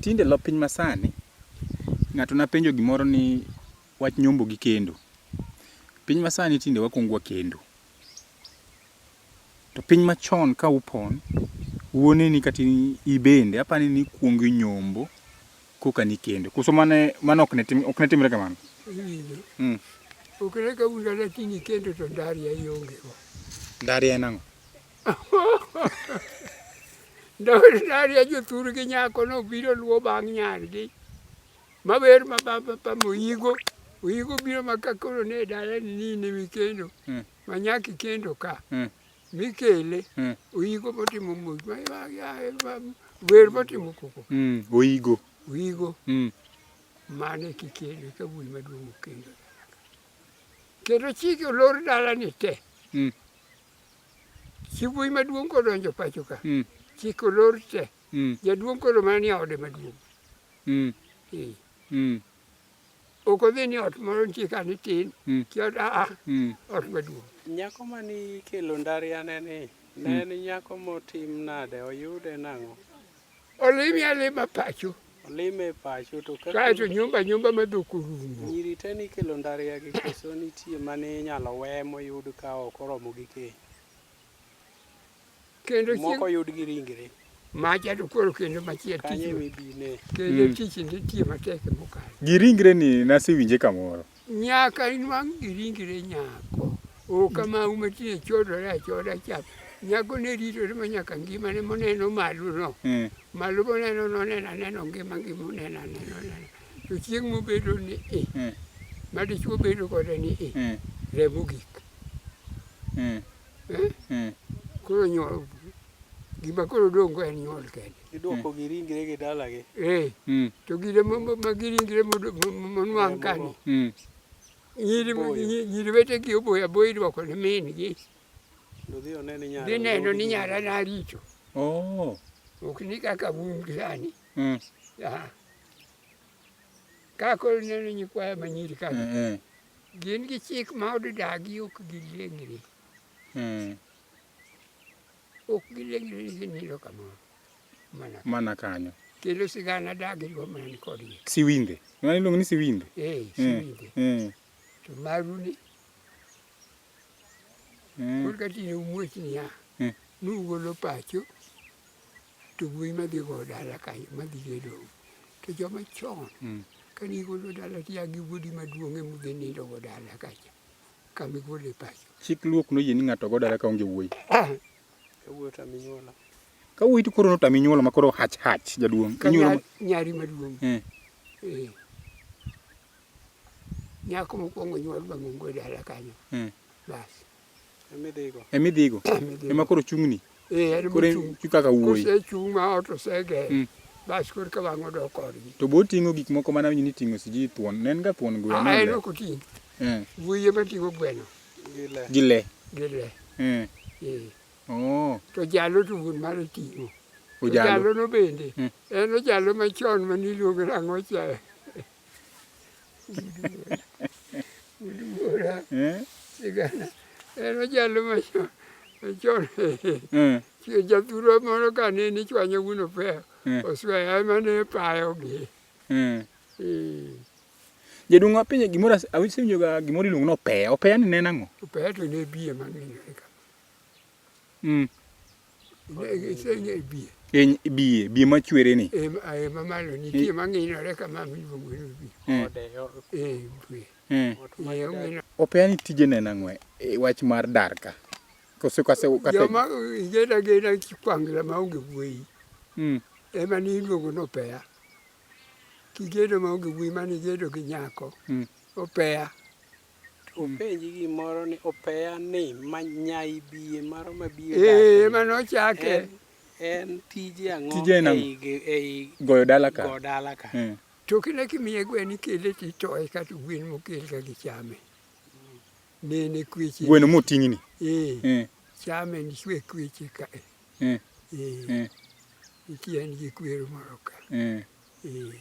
Tinde lop piny masani, ng'ato napenjo gimoro ni wach nyombo gi kendo. Piny masani tinde wakwongo wakendo. To piny machon ka upon, wuoneni kata ibende apani nikwongo inyombo koka nikendo. Koso mane mano ok ne tim ok ne timre kamano? Iwinjo. Mm. Ok ne kawuono lakini kendo to ndaria ionge go. Ndaria en ang'o? Daria jothur gi nyako no biro luwo bang' nyargi maber ma baba moyigo oyigo biro ma ka koro ne dala ni ni ne mikendo hmm. ma nyaka ikendo ka hmm. mikele hmm. oyigo motimo mos wer motimo koko oyigo oyigo mane kikendo ka wuoyi maduong' okendo kendo chike olor dala ni te Chibuyi maduong' kodonjo pacho ka. Mm. Chiko lor te. Mm. Jaduong' koro mana ni ode maduong'. Mm. Eh. Mm. Ok odhi ni ot moro nitie ka ni tin. Mm. Ki ot aa. Mm. Ot maduong'. Nyako mani kelo ndari anene. Ne mm. en nyako motim nade? Oyude nang'o? Olimi alima pacho. Olime pacho to kaka kacho nyumba nyumba madhok orumo. Nyiri te ni kelo ndaria gi koso nitie mane inyalo we moyud ka ok oromo gi keny. Kendo moko yud gi ringre. Macha to koro kendo machiel tich. Kanye mibine. Kendo mm. tich nitie matek mokalo. Gi ringre ni nasewinje kamoro. Nyaka inwang' gi ringre nyako. O kama uma tine chodore achoda chap. Nyako ne ritore ma nyaka ngima ne moneno malo no. Mm. Malo moneno no nena neno ngima ngima nena neno nena. To chieng' mobedo ni e. Mm. Ma dichuo bedo kode ni e. Mm. Remo gik. Mm. Eh? Mm. Koro nyuol. Gima koro dongo en nyuol kende. Idwoko gi ringre gi dalagi. Eh, Mm. to gire ma- ma- ma giringre modo- ma- ma- monwang' kani. Mm. Nyiri Boyo. nyi- nyiri wetegi oboyo aboyo idwoko ne min-gi. Dodhi one ni nyara. Dhi neno ni nyara na richo. Oh. Ok ni kaka un gi sani. Mm. Ah. Ka koro ineno nyikwaya ma nyiri ka Mm. Mm. gin gi chik ma odidagi ok giliengni. Mm. Ok gileng' leng' ginindo kamoro. Mana ka- Mana kanyo. kendo sigana dagiriwo mana ni kodgi. Siwinde. Ng'ani iluongo ni siwinde. Eh, Eh, siwinde. eh, To maru ni eh. kod katine umuoch niya. Eh. Nugolo pacho to wuoyi madhi go dala kanyo madhi gedo. To joma chon Mm. kane igolo dala tiya gi wuodi maduong' emudhi nindo go dala kacha. kama igole pacho. Chik Luo ok noyie ni ng'ato go dala ka onge wuoyi. Ah. Kawuoyo to aminyuola. Kawuoyi to koro to aminyuola ma koro hach hach jaduong'. Inyuola nyari maduong'. Eh. Eh. Nyako mokwongo nyuol bang' ongo dala kanyo. Eh. Bas. Emidhigo. Emidhigo. Ema koro chung'ni. Eh, en Koro mochung'. en kaka wuoyi. Kosechung' ma ot osege, Mm. bas koro ka wang'o dok kodgi. To bo ting'o gik moko mana winjo ni ting'o siji thuon. Ne en ga thuon gweno. Ah, en le. ok oting'. Eh, Wuoyi ema ting'o gweno gi le. gi le. Eh. Eh, Oh, To jalo to wuon mare ting'o. To ojalo. Jalono bende. Mm. En ojalo machon mane iluongo ni ang'o cha. sigana en ojalo machon machon jathuro moro ka ne ni chwanyo wuno peyo osweya ema ne payogi jaduong' wapinye gimoro awinjo ga gimoro iluongo ni opeya opeya ni ne nang'o opeya to ne biye mang'inore ka Mm. Eny biye, biye machwere ni. Eh, eh mamalo nitie mang'inore kama miluongo ni biye. Mm. Eh, biye. Mm. Eh, Opea ni tije nena ng'we, e, wach mar dar ka. Kose kase kate. Joma igeda geda kikwangla maonge wuoyi. Mm. Ema ni iluongo ni opea. Kigedo maonge wuoyi mani gedo gi nyako. Mm. Opea. Openji gimoro ni opeya ni manyai biye maro mabie Eh, ema nochake. en, en tije ang'o Tije en ang'o? ei ge- ei Goyo dala ka. go dala ka Eh. To kine kimiye gwen ikele to itoye kata gwen mokel ka gichame. Nene kweche. Gweno moting'ni. Eh, Eh. chame nichwe kweche ka. Eh. Eh. Eh. Eh. Ikiya nigi kwero moro ka. Eh. Eh.